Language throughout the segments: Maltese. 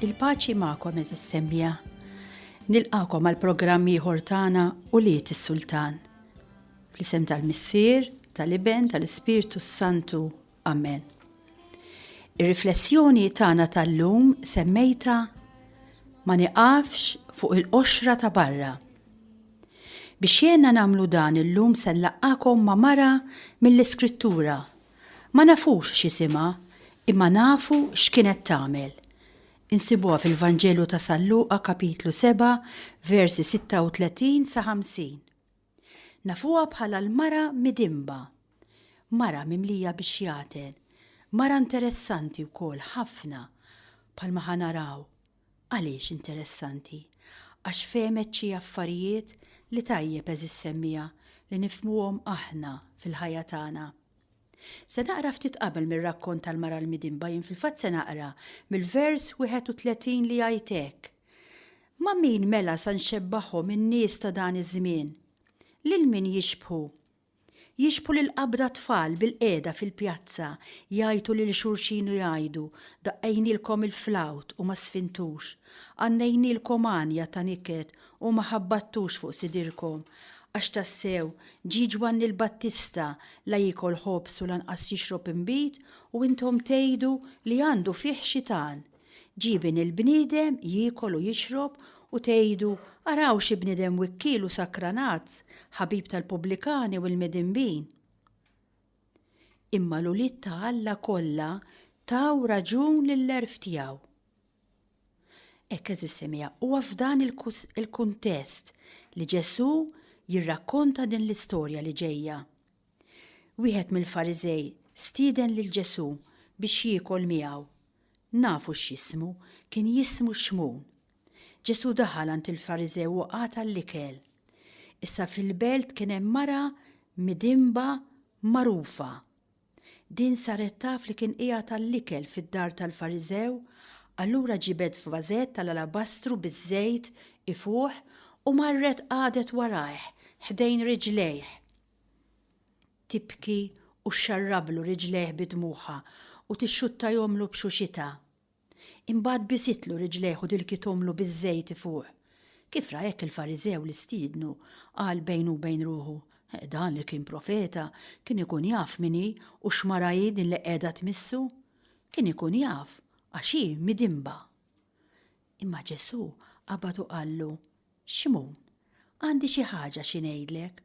Il-paċi magħkom eżis semmiegħa. Nilqakom għal programm ieħor tagħna u liet is-Sultan. Fl-isem tal-Missier, tal-Iben, tal-Ispirtu s-Santu. Amen. Ir-riflessjoni tagħna tal-lum semmejta ma niqafx fuq il-qoxra ta' barra. Biex jena namlu dan il-lum sellaqakom ma mara mill-iskrittura Ma nafux x'isimha, imma nafu x'kienet tagħmel. Insibuha fil-Vanġelu ta' San Luqa kapitlu 7 versi 36 sa 50. Nafuha bħala l-mara midinba. Mara mimlija bix-xjaten. Mara interessanti wkoll ħafna, bħalma ħa naraw. Għaliex interessanti? Għax fehmet xi affarijiet li tajjeb għeżiż semmiegħa li nifhmuhom aħna fil-ħajja tagħna. Se naqra ftit qabel mir-rakkont tal-mara l-midinba jien fil-fatt se naqra mill-vers 31 li jgħid hekk, Ma' min mela sa nxebbahom in-nies ta' dan iż-żmien? Lil min jixbħu? Jixbħu lill-qabd għat-tfal bilqiegħda fil-pjazza, jgħajtu lil xulxin u jgħidu, Daqqejnielkom il-flawt u ma sfintux. Għannejnielkom għanja ta' niket u ma ħabbattux fuq sidirkom. Għax tassew, ġie Ġwanni l-Battista, la jiekol ħobż u lanqas jixrob inbid, u intom tgħidu li għandu fih xitan! Ġieben il-bniedem jiekol u jixrob u tgħidu, 'Araw xi bniedem wikkiel u sakranazz, ħabib tal-pubblikani u l-midinbin! Imma l-ulied ta' Alla kollha taw raġun lill-għerf tiegħu. Hekk eżis semija, huwa f'dan il-kuntest li Ġesù jirrakkonta din l-istorja li ġejja. Wieħed mill-Fariżej stieden lil Ġesù biex jiekol miegħu. Nafu x'jismu, kien jismu Xmun. Ġesù daħal għand il-Fariżew u qata' l-ikel. Issa fil-belt kien hemm mara midinba magħrufa. Din saret taf li kien qiegħed għall-ikel fid-dar tal-Fariżew, allura ġibed f'vażett tal-alabastru biż-żejt ifuħ u marret qagħdet warajh, ħdejn riġlejh. tibki u xxarrablu riġlejh bi dmugħha u tixxuttajhomlu b'xuxitha. Imbagħad bisitlu riġlejh u dilkithomlu biż-żejt fuq. Kif ra hekk il-Fariżew li stiednu, qal bejnu u bejn ruħu, Dan li kien profeta, kien ikun jaf min hi u x'mara hi din li qiegħda tmissu. Kien ikun jaf, għax hi midinba. Imma Ġesù qabad u qallu, Ximgħun, għandi xi ħaġa xi ngħidlek.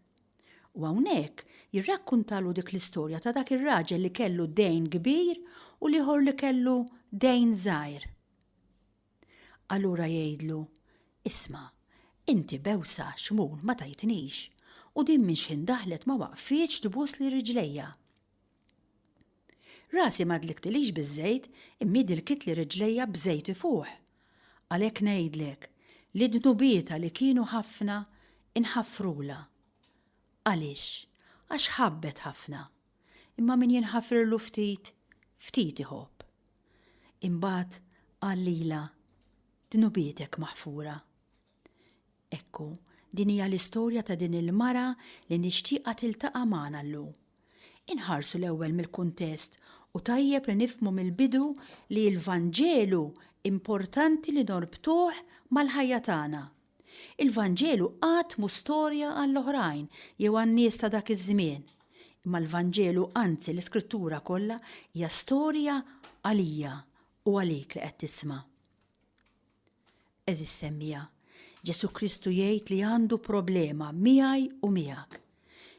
U hawnhekk jirrakkuntalu dik l-istorja ta' dak ir-raġel li kellu dejn kbir u l-ieħor li kellu dejn żgħir. Allura jgħidlu, Isma', inti bewsa, Ximgħun, ma tajtnix, u din minn xħin daħlet ma waqfitx tbusli riġlejja. Rasi ma dliktilix biż-żejt, imma dilkitli riġlejja b'żejt ifuħ. Għalhekk ngħidlek li dnubietha li kienu ħafna inħafrulha. Għaliex? Għax ħabbet ħafna. Imma min jinħafirlu ftit, ftit iħobb. Imbagħad qal lilha, Dnubietek maħfura. Ekku, din hija l-istorja ta' din il-mara li nixtieqha tiltaqa' magħna llum. Inħarsu l-ewwel mill-kuntest u tajjeb li nifhmu mill-bidu li l-Vanġelu importanti li norbtuh mal-ħajja tagħna. Il-Vanġelu qatt mhu storja għall-oħrajn jew għan-nies ta' dak iż-żmien, imma l-Vanġelu anzi l-Iskrittura kollha hija storja għalija u għalik li qed tisma'. Eżis semmija, Ġesu Kristu jgħid li għandu problema miegħi u miegħek.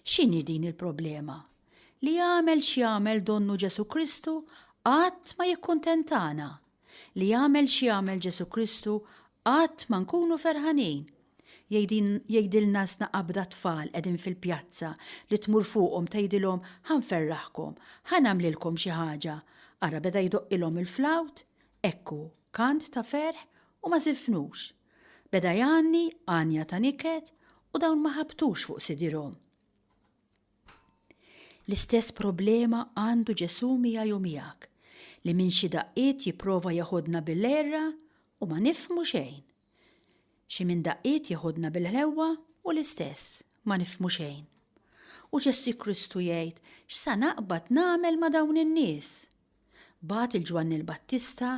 X'inhi din il-problema? Li jagħmel x'jagħmel donnu Ġesu Kristu qatt ma jikkuntentana. Li jagħmel x'jagħmel Ġesu Kristu qatt ma nkunu ferħanin. Jgħidilna sna qabda tfal qegħdin fil-pjazza li tmur fuqhom tgħidilhom ħanferraħkom, ħanamlilkom xi ħaġa. Ara beda jdoqqilhom il-flawt, Hekk hu, kant ta' ferħ u ma żifnux. Beda jgħanni għanja ta' niket u dawn ma ħabtux fuq sidirhom. L-istess problema għandu Ġesù miegħi u miegħek, li minn xi daqqiet jipprova jeħodna bil-għerra u ma nifhmu xejn. Xi minn daqqiet jeħodna bil-ħlewwa u l-istess, ma nifhmu xejn. U Ġesù Kristu jgħid, x'sa naqbad nagħmel ma' dawn in-nies? Bagħat lil Ġwanni l-Battista,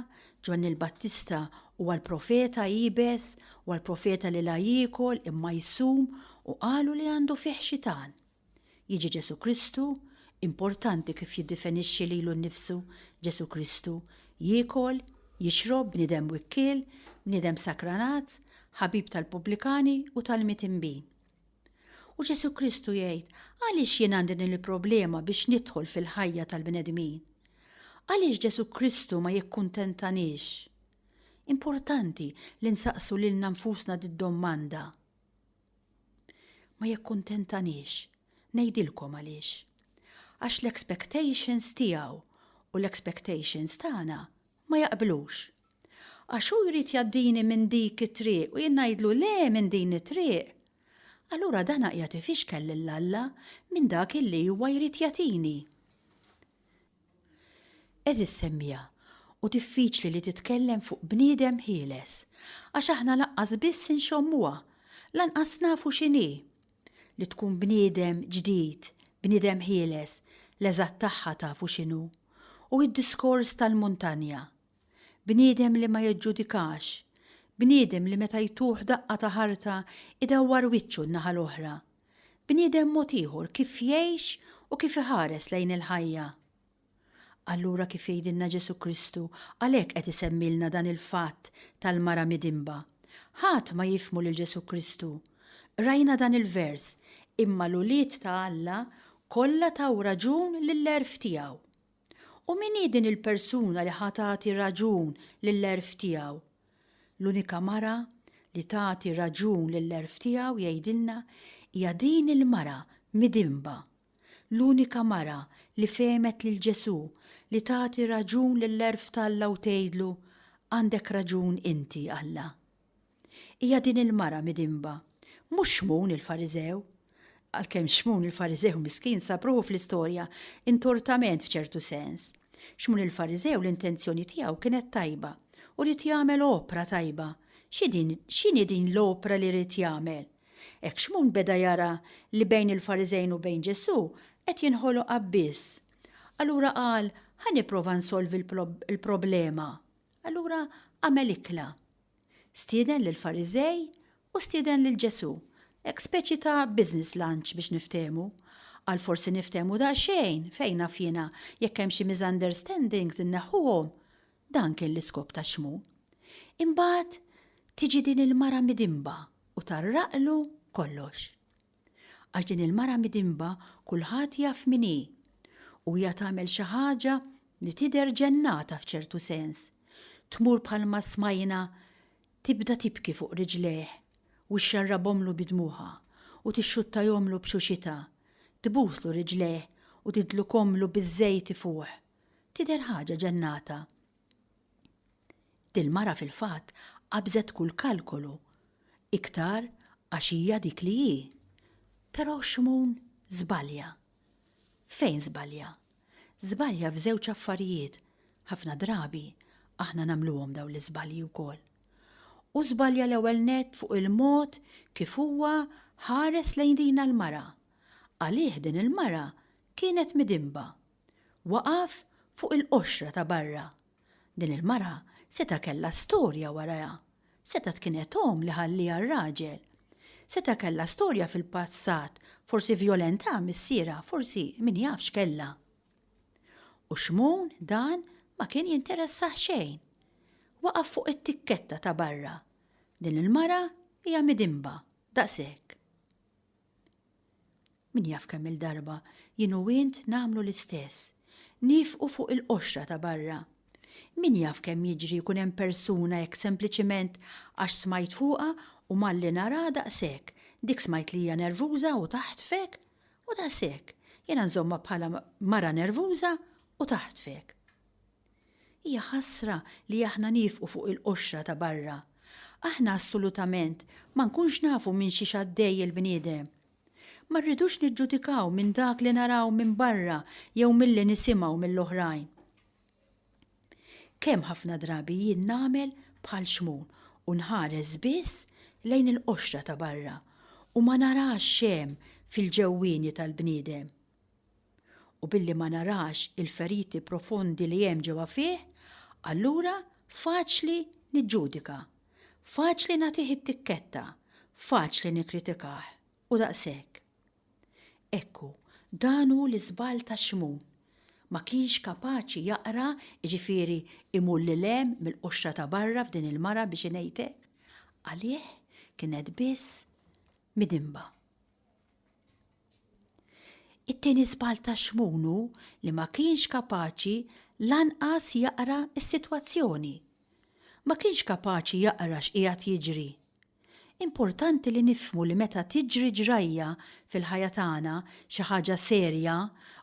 Ġwanni l-Battista huwa l-profeta iebes, huwa l-profeta li la jiekol imma jsum u qalu li għandu fih xitan. Jiġi Ġesu Kristu, importanti kif jiddifenixxi lilu nnifsu Ġesu Kristu, jiekol, jixrob, bniedem wikkiel, bniedem sakranat, ħabib tal-pubblikani u tal-mitinbin. U Ġesu Kristu jgħid, għaliex jien għandi din il-problema biex nidħol fil-ħajja tal-bnedmin? Għaliex Ġesu Kristu ma jikkuntentanix? Importanti li nsaqsu lilna nfusna did-domanda. Ma jikkuntentanix, ngħidilkom għaliex. Għax l-expectations tiegħu u l-expectations tagħna ma jaqblux. Għax hu jrid jgħaddini minn dik it-triq u jien ngħidlu le minn din it-triq. Allura dana qiegħed ifixkel lil Alla minn dak illi huwa jrid jagħtini. Għeżież semmiegħa, hu diffiċli li titkellem fuq bniedem ħieles, għax aħna lanqas biss inxommuha, lanqas nafu x'inhi. Li tkun bniedem ġdid, bniedem ħieles, l-eżatt tagħha tafu x'inhu? Hu d-diskors tal-muntanja, Bniedem li ma jiġġudikax. Bniedem li meta jtuh daqqa ta' ħarta jdawwar wiċċu n-naħa l-oħra. Bniedem mod ieħor kif jgħix u kif iħares lejn il-ħajja. Allura kif jgħidilna Ġesù Kristu għalhekk qed isemmilna dan il-fatt tal-mara midinba. Ħadd ma jifhmu lil Ġesù Kristu. Qrajna dan il-vers, Imma l-ulied ta' Alla kollha taw raġun lill-għerf tiegħu. U min hi din il-persuna li ħa tagħti raġun lill-għerf tiegħu? L-unika mara li tagħti raġun lill-għerf tiegħu, jgħidilna, hija din il-mara midinba. L-unika mara li fehmet lil Ġesù li tagħti raġun lill-għerf t'Alla u tgħidlu, Għandek raġun inti, Alla. Hija din il-mara midinba, mhux Xmun il-Fariżew. Għalkemm Xmun il-Fariżew miskin sab ruħu fl-istorja intortament f'ċertu sens. Xmun il-Fariżew l-intenzjoni tiegħu kienet tajba u ried jagħmel opra tajba. X'inhi din l-opra li ried jagħmel? Hekk Xmun beda jara li bejn il-Fariżejn u bejn Ġesù qed jinħoloq abbiss. Allura qal, 'Ħa nipprova nsolvi l-problema. Allura għamel ikla. Stieden lill-Fariżej u stieden lil Ġesù, hekk speċi ta' business lunch biex niftehmu. Qal forsi niftehmu daqsxejn, fejn naf jiena, jekk hemm xi misunderstandings inneħħuhom. Dan kien l-iskop ta' x'mu. Imbagħad tiġi din il-mara midinba u tgħarraqlu kollox. Għax din il-mara midinba kulħadd jaf min hi u hija tagħmel xi ħaġa li tidher ġennata f'ċertu sens. Tmur bħalma smajna tibda tibki fuq riġlejh u xxarrabhomlu bi dmugħha u tixxuttajhomlu b'xuxitha, tbuslu riġlejh u tidlukhomlu biż-żejt ifuħ. Tidher ħaġa ġennata. Dil-mara fil-fatt qabżet kull kalkolu, iktar għax hija dik li hi. Però Xmun żbalja. Fejn żbalja? Żbalja f'żewġ affarijiet, ħafna drabi aħna nagħmluhom dawn l-iżbalji wkoll. Hu żbalja l-ewwel nett fuq il-mod kif huwa ħares lejn dina l-mara. Għalih din il-mara kienet midinba. Waqaf fuq il-qoxra ta' barra. Din il-mara seta' kellha storja warajha. Setgħet kienet omm li ħallieha r-raġel. Seta' kellha storja fil-passat, forsi vjolentà missierha, forsi min jaf x'kellha. U Xmun dan ma kien jinteressah xejn. Waqaf fuq it-tikketta ta' barra. Din il-mara hija midinba, daqshekk. Min jaf kemm-il darba jien u int nagħmlu l-istess, nieqfu fuq il-qoxra ta' barra. Min jaf kemm jiġri jkun hemm persuna hekk sempliċiment għax smajt fuqha u malli naraha daqshekk, dik smajt li hija nervuża u taħtfek, u daqshekk, jiena nżommha bħala mara nervuża u taħtfek. Hija ħasra li aħna niefqu fuq il-qoxra ta' barra. Aħna assolutament ma nkunx nafu minn xiex għaddej il-bniedem. Ma rridux niġġudikaw minn dak li naraw minn barra jew milli nisimgħu mill-oħrajn. Kemm ħafna drabi jien nagħmel bħal Xmun u nħares biss lejn il-qoxra ta' barra u ma narax x'hemm fil-ġewwieni tal-bniedem. u billi ma narax il-feriti profondi li hemm ġewwa fih, allura faċli niġġudika, faċli nagħtih it-tikketta, faċli nikkritikah, u daqshekk. Ekku, dan hu l-iżball ta' Xmun. Ma kienx kapaċi jaqra, jiġifieri imur lil hemm mill-qoxra ta' barra f'din il-mara biex ingħidlek. Għalih kienet biss midinba. It-tieni żball ta' Xmun hu li ma kienx kapaċi lanqas jaqra s-sitwazzjoni. Ma kienx kapaċi jaqra x'qiegħed jiġri. Importanti li nifhmu li meta tiġri ġrajja fil-ħajja tagħna, xi ħaġa serja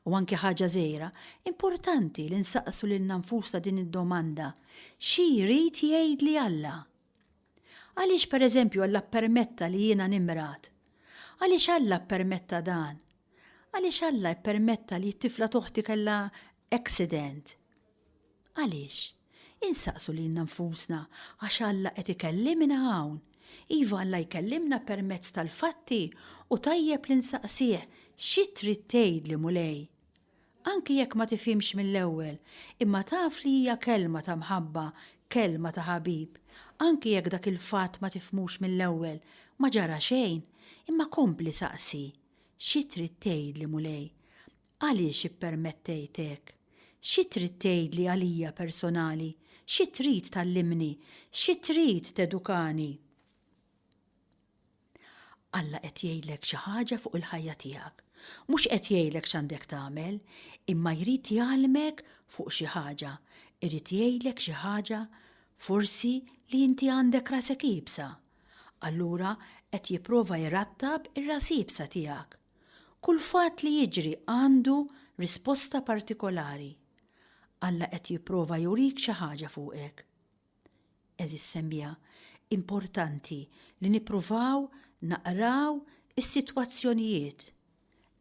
u anki ħaġa żgħira, importanti li nsaqsu lilna nfusna din id-domanda, Xi jrid jgħidli Alla? Għaliex pereżempju Alla ppermetta li jiena nimrad? Għaliex Alla ppermetta dan? Għaliex Alla ppermetta li t-tifla toħti kellha accident? Għaliex? Insaqsu lilna nfusna għax Alla qed ikellimna hawn. Iva Alla jkellimna permezz tal-fatti u tajjeb li nsaqsih xi trid tgħidli Mulej? Anki jekk ma tifhimx mill-ewwel, imma taf li hija kelma ta' mħabba, kelma ta' ħabib. Anki jekk dak il-fatt ma tifhmux mill-ewwel, ma ġara xejn, imma kompli saqsi, Xi trid tgħidli, Mulej? Għaliex ippermettejt hekk? Xi trid tgħidli għalija personali? Xi trid tgħallimni? Xi trid tedukani? Alla qed jgħidlek xi ħaġa fuq il-ħajja tiegħek. Mhux qed jgħidlek x'għandek tagħmel, imma jrid jgħallmek fuq xi ħaġa, irid jgħidlek xi ħaġa forsi li inti għandek rasek iebsa. Allura qed jipprova jrattab ir-ras iebsa tiegħek. Kull fatt li jiġri għandu risposta partikolari. Alla qed jipprova jurik xi ħaġa fuqek. Għeżież semmiegħa, importanti li nippruvaw naqraw is-sitwazzjonijiet.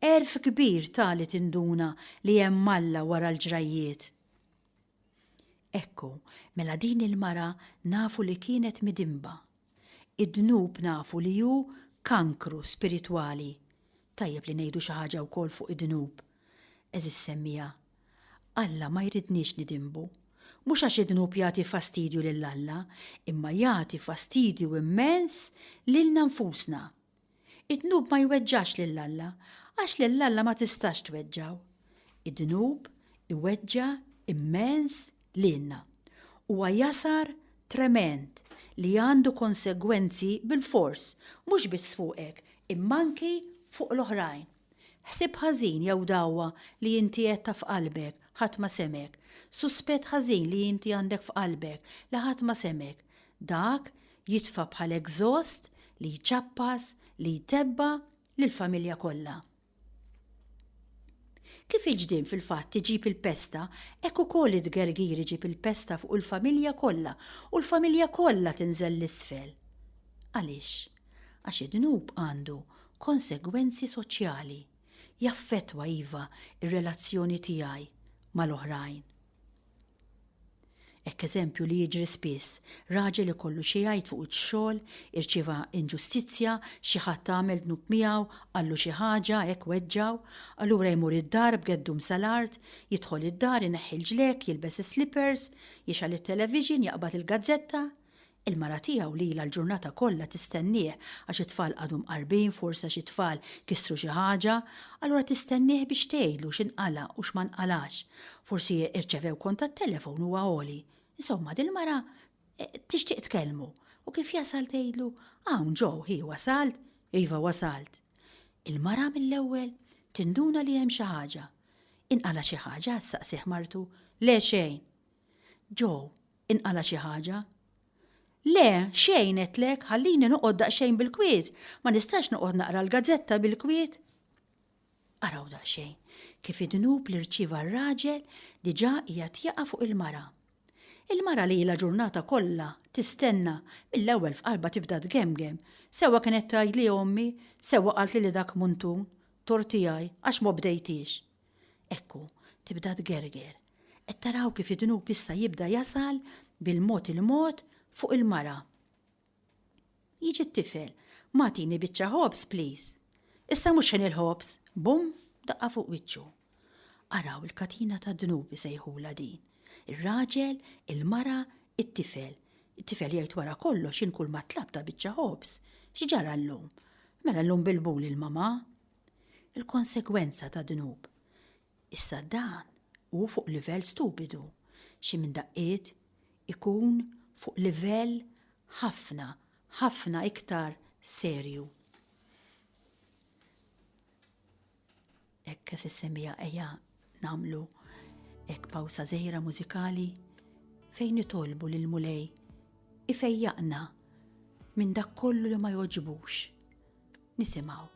Għerf kbir ta' li tinduna li hemm Alla wara l-ġrajjiet. Ekku, mela din il-mara nafu li kienet midinba. Id-dnub nafu li hu kankru spiritwali. Tajjeb li ngħidu xi ħaġa wkoll fuq id-dnub, għeżież semmiegħa. Alla ma jridniex nidinbu. Mhux għax id-dnub jagħti fastidju lil Alla, imma jagħti fastidju immens lilna nfusna. Id-dnub ma jweġġax lil Alla, għax lil Alla ma tistax tweġġgħu. Id-dnub iweġġa' immens lilna. Huwa jasar tremend li għandu konsegwenzi bilfors, mhux biss fuqek, imma anki fuq l-oħrajn. Ħsieb ħażin jew dagħwa li inti għedtha f'qalbek, ħadd ma semgħek. Suspett ħażin li inti għandek f'qalbek, li ħadd ma semgħek. Dak jitfa' bħal exhaust li jċappas, li jtebba' lill-familja kollha. Kif il-ġdien fil-fatt iġib il-pesta, hekk ukoll it-tgergir iġib il-pesta fuq il-familja kollha u l-familja kollha tinżel 'l isfel. Għaliex? Għax id-dnub għandu konsegwenzi soċjali. Jaffettwa, iva, ir-relazzjoni tiegħi mal-oħrajn. Hekk eżempju li jiġri spiss, raġel ikollu xi jgħid fuq ix-xogħol, irċieva inġustizzja, xi ħadd għamel dnub miegħu, qallu xi ħaġa, hekk weġġgħu. Allura jmur id-dar b'għeddu msa l-art, jidħol id-dar, ineħħi l-ġlekk, jilbes is-slippers, jixgħal it-television, jaqbad il-gazzetta. Il-mara tiegħu li ilha l-ġurnata kollha tistennieh għax it-tfal qagħdu mqarbin, forsi għax it-tfal kisru xi ħaġa, allura tistennieh biex tgħidlu x'inqala' u x'ma nqalax. Forsi irċevew kont tat-telefon huwa għoli. Insomma, dil-mara tixtieq tkellmu u kif jasal tgħidlu, Hawn ġo, hi wasalt? Iva wasalt. Il-mara mill-ewwel tinduna li hemm xi ħaġa. Inqala' xi ħaġa? ssaqsih martu. Le xejn. Joe, inqala' xi ħaġa. Le, xejn għedtlek, ħallini noqgħod daqsxejn bil-kwiet, ma nistax noqgħod naqra l-gazzetta bil-kwiet. Araw daqsxejn, kif id-dnub li rċieva r-raġel diġà qiegħed jaqa' fuq il-mara. Il-mara li ilha ġurnata kollha tistenna mill-ewwel f'qalbha tibda tgemgem, sewwa kienet tgħidli ommi, sewwa qaltli li dak muntun, tort tiegħi, għax ma bdejtiex. Ekku, tibda tgerger. Qed taraw kif id-dnub issa jibda jasal bil-mod il-mod fuq il-mara. Jiġi t-tifel, M'agħtini biċċa ħobż, please. Issa mhux ħin il-ħobż! Bum! Daqqa fuq wiċċu. Araw il-katina tad-dnub isejħulha din. Ir-raġel, il-mara, it-tifel. It-tifel jgħid wara kollox jien kulma tlabta biċċa ħobż. X'ġara llum? Mela llum bilbul il-mamà. il-konsegwenza ta' dnub. Issa dan hu fuq livell stupidu, xi minn daqqiet ikun fuq livell ħafna, ħafna iktar serju. Hekk se semmiha ejja Namlu hekk pawsa żgħira mużikali fejn nitolbu lil Mulej ifejjaqna minn dak kollu li ma joġbux. Nisimgħu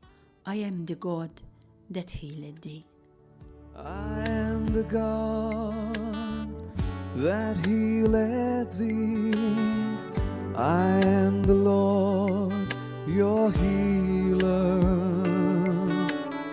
I am the God that healed thee. I am the God that healed thee. I am the Lord, your healer.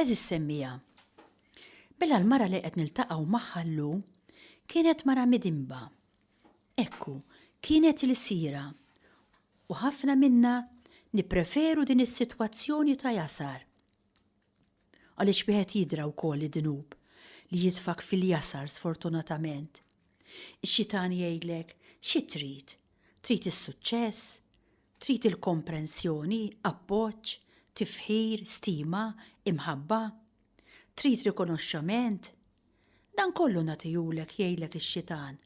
Eżis semmija. Bella l-mara li qed niltaqgħu magħha llum kienet mara midimba. Ekku, kienet il-sira. U ħafna minna nipreferu din is-sitwazzjoni ta' jasar. Għaliex wieħed jidra wkoll id-dnub li jitfgħek fil-jasar sfortunatament. Ix-xitan jgħidlek, xi trid? Trid is-suċċess? Trid il-komprensjoni, appoġġ, tifħir, stima, imħabba? Trid rikonoxxament? Dan kollu nagħtihulek jgħidlek ix-xitan,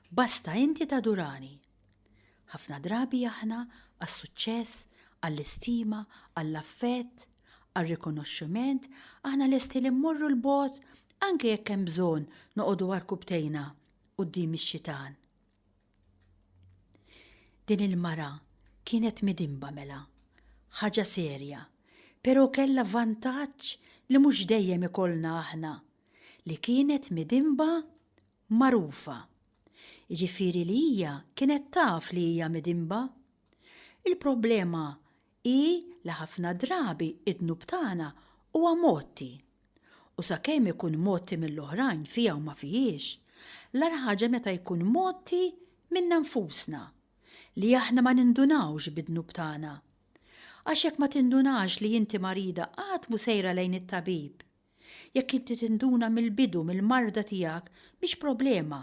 basta inti tadurani. Ħafna drabi aħna għas-suċċess, għall-istima, għall-affett, għar-rikonoxximent aħna lesti li mmorru 'l bogħod anke jekk hemm bżonn noqogħdu għarkupptejna quddiem ix-xitan. Din il-mara kienet midinba mela. Ħaġa serja, pero' kellha vantaġġ li mhux dejjem ikollna aħna, li kienet midinba magħrufa. Jiġifieri li hija kienet taf li hija midinba. Il-problema hi li ħafna drabi d-dnub tagħna huwa mgħotti. U sakemm ikun mgħotti mill-oħrajn fija u ma fihiex, l-agħar ħaġa meta jkun mgħotti minna nfusna, li aħna ma nindunawx bid-dnub tagħna. Għax jekk ma tindunax li inti marida qatt mhu sejra lejn it-tabib. Jekk inti tinduna mill-bidu mill-marda tiegħek, mhix problema,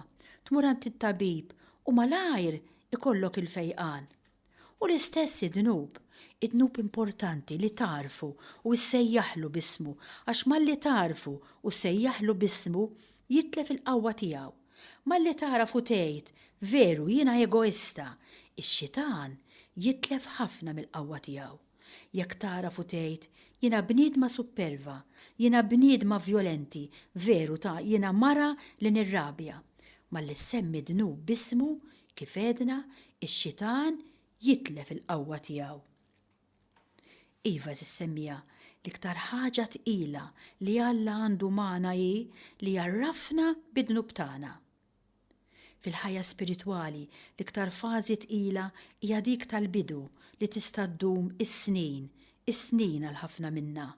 tmur għand it-tabib u malajr ikollok il-fejqan. U l-istess id-dnub, id-dnub importanti li tagħrfu u ssejjaħlu b'ismu għax malli tagħrfu u ssejjaħlu b'ismu jitlef il-qawwa tiegħu. Malli tagħraf u tgħid, veru jiena egoista, ix-xitan jitlef ħafna mill-qawwa tiegħu. Jekk tagħraf u tgħid, jiena bniedma supperva, jiena bniedma vjolenti, veru ta' jiena mara li nirrabja, malli ssemmi dnub b'ismu, kif għedna, ix-xitan jitlef il-qawwa tiegħu. Iva għeżież semmiegħa, l-iktar ħaġa tqila li Alla għandu magħna hi li jgħarrafna bid-dnub tagħna. Fil-ħajja spiritwali, l-iktar fażi tqila hija dik tal-bidu li tista' ddum is-snin, is-snin għal ħafna minna.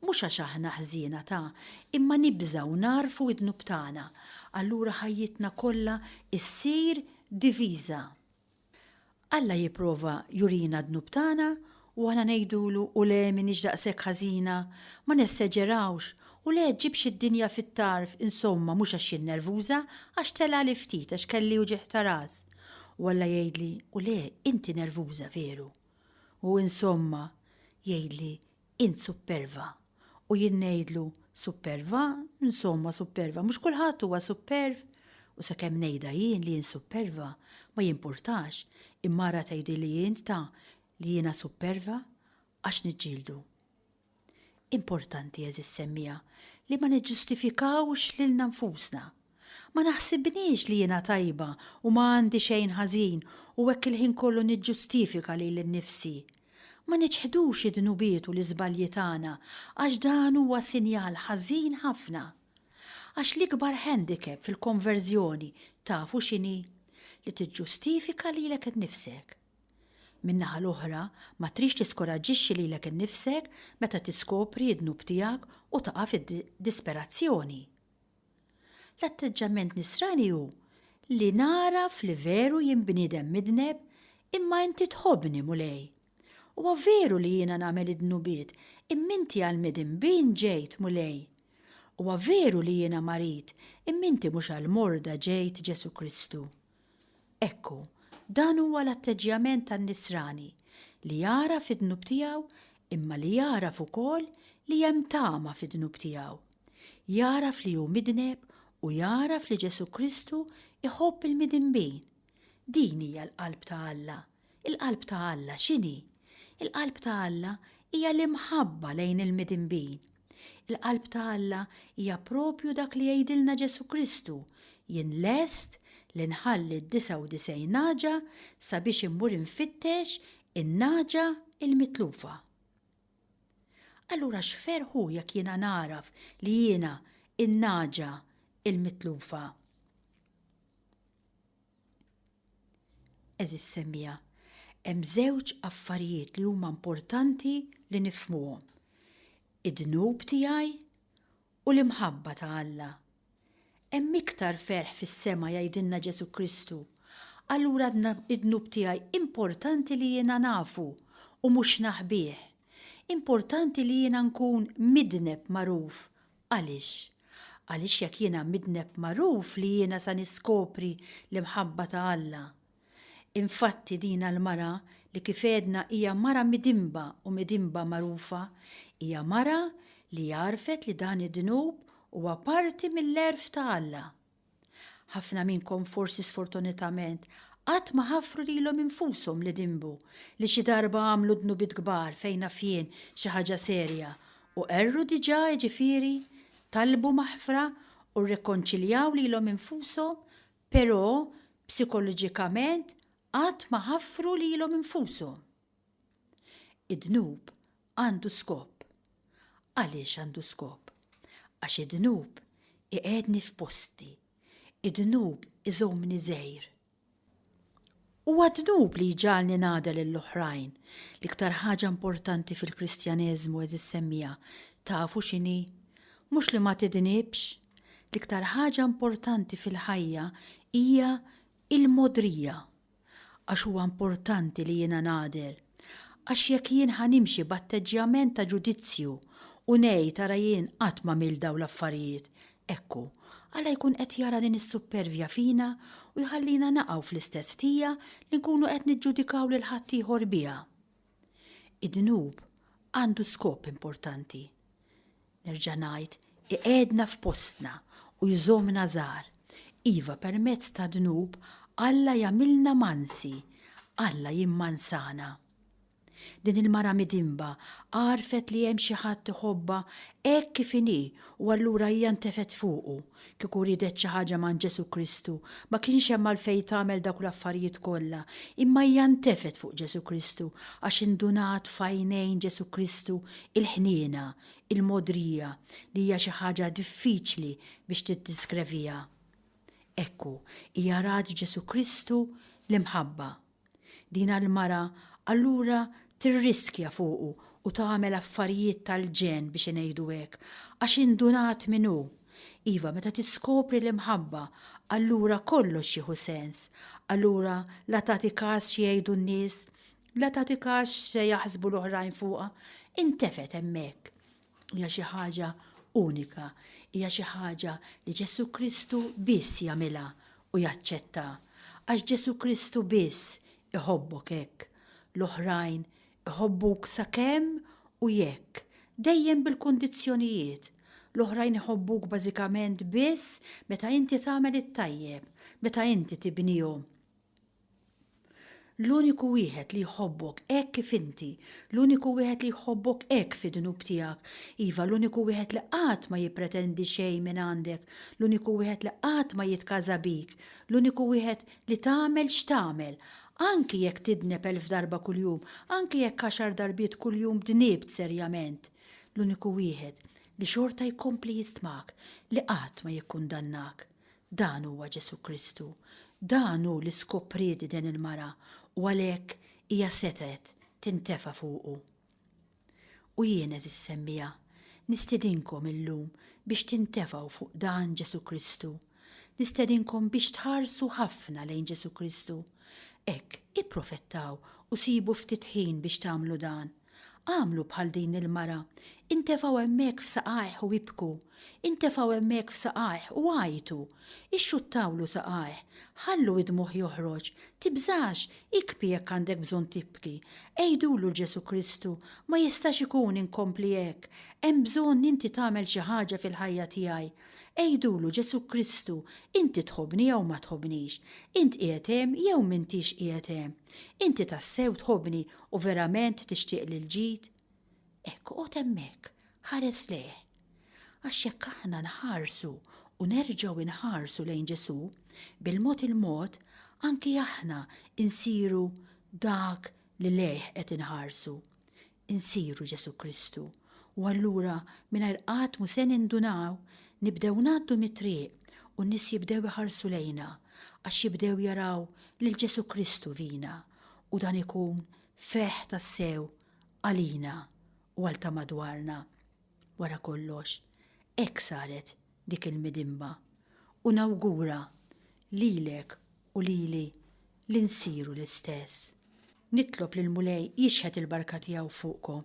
Mhux għax aħna ħżiena ta', imma nibża' u nagħrfu id-dnub tagħna, allura ħajjitna kollha ssir diviża. Alla jipprova jurina d-dnub tagħna u aħna ngħidulu, 'U le, m'iniex daqshekk ħażina, ma nesseġerawx, u le, ġġibx id-dinja fit-tarf, insomma, mhux għax jien nervuża, għax telgħali ftit, għax kelli uġigħ ta' ras. U Alla jgħidli, 'U le, inti nervuża veru. U, insomma, jgħidli, Int supperva. U jien ngħidlu, Supperva? Insomma, supperva, mhux kulħadd huwa supperv? U sakemm ngħidha jien li jien supperva, ma jimpurtax, il-mara tgħidilli int ta' li jiena supperva? Għax niġġieldu. Importanti, għeżież semmiegħa, li ma niġġustifikawx lilna nfusna. Ma naħsibnix li jiena tajba u ma għandi xejn ħażin u hekk il-ħin kollu niġġustifika lili nnifsi. Ma niċħdux id-dnubiet u l-iżbalji tagħna għax dan huwa sinjal ħażin ħafna. Għax l-ikbar handicap fil-konverżjoni tafu x'inhi? Li tiġġustifika lilek innifsek. Min-naħa l-oħra, ma tridx tiskoraġġixxi lilek innifsek meta tiskopri d-dnub tiegħek u taqa' fid-disperazzjoni. L-atteġġjament nisrani hu li nagħraf li veru jien bniedem midneb imma inti tħobbni, Mulej. Huwa veru li jiena nagħmel id-dnubiet imma inti għal midin bin ġejt, Mulej. Huwa veru li jiena marid imma inti mhux għall-morda ġejt, Ġesù Kristu. Ekku, dan huwa l-atteġġjament tan-nisrani li jagħraf id-dnub tiegħu imma li jagħraf ukoll li hemm tama fid-dnub tiegħu. Jagħraf li hu midneb u jagħraf li Ġesù Kristu jħobb il-midinbin. Din hija l-qalb ta' Alla. Il-qalb ta' Alla x'inhi? Il-qalb ta' Alla hija l-imħabba lejn il-midinbin. Il-qalb ta' Alla hija proprju dak li jgħidilna Ġesù Kristu, Jien lest li nħalli d-disgħa u disgħin nagħġa sabiex immur infittex in-nagħġa l-mitlufa. Allura x'ferħ hu jekk jiena nagħraf li jiena n-nagħġa l-mitlufa! Għeżież semmiegħa, hemm żewġ affarijiet li huma importanti li nifhmuhom, id-dnub tiegħi u l-imħabba ta' Alla. Hemm iktar ferħ fis-sema jgħidilna Ġesù Kristu, allura d-dnub tiegħi importanti li jiena nafu u mhux naħbih. Importanti li jiena nkun midneb magħruf Għaliex? Għaliex jekk jiena midneb magħruf li jiena sa niskopri l-imħabba ta' Alla. Infatti dina l-mara li kif għedna hija mara midinba u midinba magħrufa, hija mara li għarfet li dan id-dnub huwa parti mill-għerf ta' Alla. Ħafna minnkom forsi sfortunitament qatt ma ħaffru lilhom infushom li dimbu, li xi darba għamlu dnubiet kbar fejn naf jien xi ħaġa serja u qerru diġà jiġifieri talbu maħfra u rrikonċiljaw lilhom infushom però psikoloġikament qatt ma ħaffru lilhom infushom. Id-dnub għandu skop. Għaliex għandu skop? Għax id-dnub iqegħedni f'posti. Id-dnub iżommni żgħir. Huwa d-dnub li jġagħalni ngħada lill-oħrajn. L-iktar ħaġa importanti fil-Kristjaneżmu, eżis semmiegħa, tafu x'inhi? Mhux li ma tidnibx. L-iktar ħaġa importanti fil-ħajja hija l-mogħdrija. għax huwa importanti li jiena nagħder, għax jekk jien ħa nimxi b'atteġġjament ta' ġudizzju u ngħid ara jien qatt m'għamilt dawn l-affarijiet, ekku, Alla jkun qed jara din is-suppervja fina u jħallina naqgħu fl-istess ħtija li nkunu qed niġġudikaw lil ħaddieħor biha. Id-dnub għandu skop importanti. Nerġa' ngħid, iqegħedna f'postna u jżommna żgħar. Iva, permezz tad-dnub, Alla jagħmilna mansi, Alla jimmansana. Din il-mara midinba għarfet li hemm xi ħadd iħobbha hekk kif inhi u allura hija ntefgħet fuqu. Kieku riedet xi ħaġa m'għand Ġesù Kristu, ma kienx hemm għalfejn tagħmel dawk l-affarijiet kollha, imma hija ntefgħet fuq Ġesù Kristu għax indunat f'għajnejn Ġesù Kristu l-ħniena, il-mogħdrija, li hija xi ħaġa diffiċli biex tiddiskreviha. Ekku, hija rat f'Ġesù Kristu l-imħabba. Dina l-mara allura tirriskja fuqu u tagħmel affarijiet tal-ġenn biex ingħidu hekk, għax indunat min hu. Iva, meta tiskopri l-imħabba, allura kollox jieħu sens. Allura la tagħti każ xi jgħidu n-nies, la tagħti każ x'se jaħsbu l-oħrajn fuqha, intefgħet hemmhekk. Hija xi ħaġa unika, hija xi ħaġa li Ġesù Kristu biss jagħmilha u jaċċetta, għax Ġesù Kristu biss iħobbok hekk. L-oħrajn iħobbuk sakemm u jekk, dejjem bil-kundizzjonijiet. L-oħrajn iħobbuk bażikament biss meta inti tagħmel it-tajjeb, meta inti tibnihom. L-uniku wieħed li jħobbok hekk kif inti, l-uniku wieħed li jħobbok hekk fid-dnub tiegħek, iva, l-uniku wieħed li qatt ma jippretendi xejn minn għandek, l-uniku wieħed li qatt ma jitkaża bik, l-uniku wieħed li tagħmel x'tagħmel, anki jekk tidneb elf darba kuljum, anki jekk għaxar darbiet kuljum dniebt serjament, l-uniku wieħed li xorta jkompli jistmak, li qatt ma jikkundannak. Dan huwa Ġesù Kristu. Dan hu li skopriet din il-mara u għalhekk hija setgħet tintefa' fuqu. U jien, għeżież semmiegħa, nistedinkom illum biex tintefgħu fuq dan Ġesù Kristu. Nistedinkom biex tħarsu ħafna lejn Ġesù Kristu. Hekk, ipprofettaw u sibu ftit ħin biex tagħmlu dan. Għamlu bħal din il-mara, intefgħu hemmhekk f'saqajh u ibku, intefgħu hemmhekk f'saqajh u għajtu, ixxuttawlu saqajh, ħallu id-dmugħ joħroġ, tibżax, ikbi jekk għandek bżonn tibki, għidulu l-Ġesù Kristu, ma jistax ikun inkompli hekk, hemm bżonn inti tagħmel xi ħaġa fil-ħajja tiegħi. Għidulu Ġesù Kristu, inti tħobbni jew ma tħobbnix, int qiegħed hemm jew m'intix qiegħed hemm. Inti tassew tħobbni U verament tixtieq lil ġid? Hekk oqgħod hemmhekk, ħares lejh. Għax jekk aħna nħarsu u nerġgħu inħarsu lejn Ġesù, bil-mod il-mod anki aħna insiru dak li lejh qed inħarsu. Insiru Ġesù Kristu. U allura mingħajr qatt mu se nindunaw nibdew ngħaddu mit-triq u n-nies jibdew iħarsu lejna għax jibdew jaraw lil Ġesù Kristu fina. u dan ikun ferħ tassew għalina u għal ta' madwarna. Wara kollox, hekk saret dik il-midinba u nawgura lilek u lili li nsiru l-istess. Nitlob lill-Mulej jixħet il-barka tiegħu fuqkom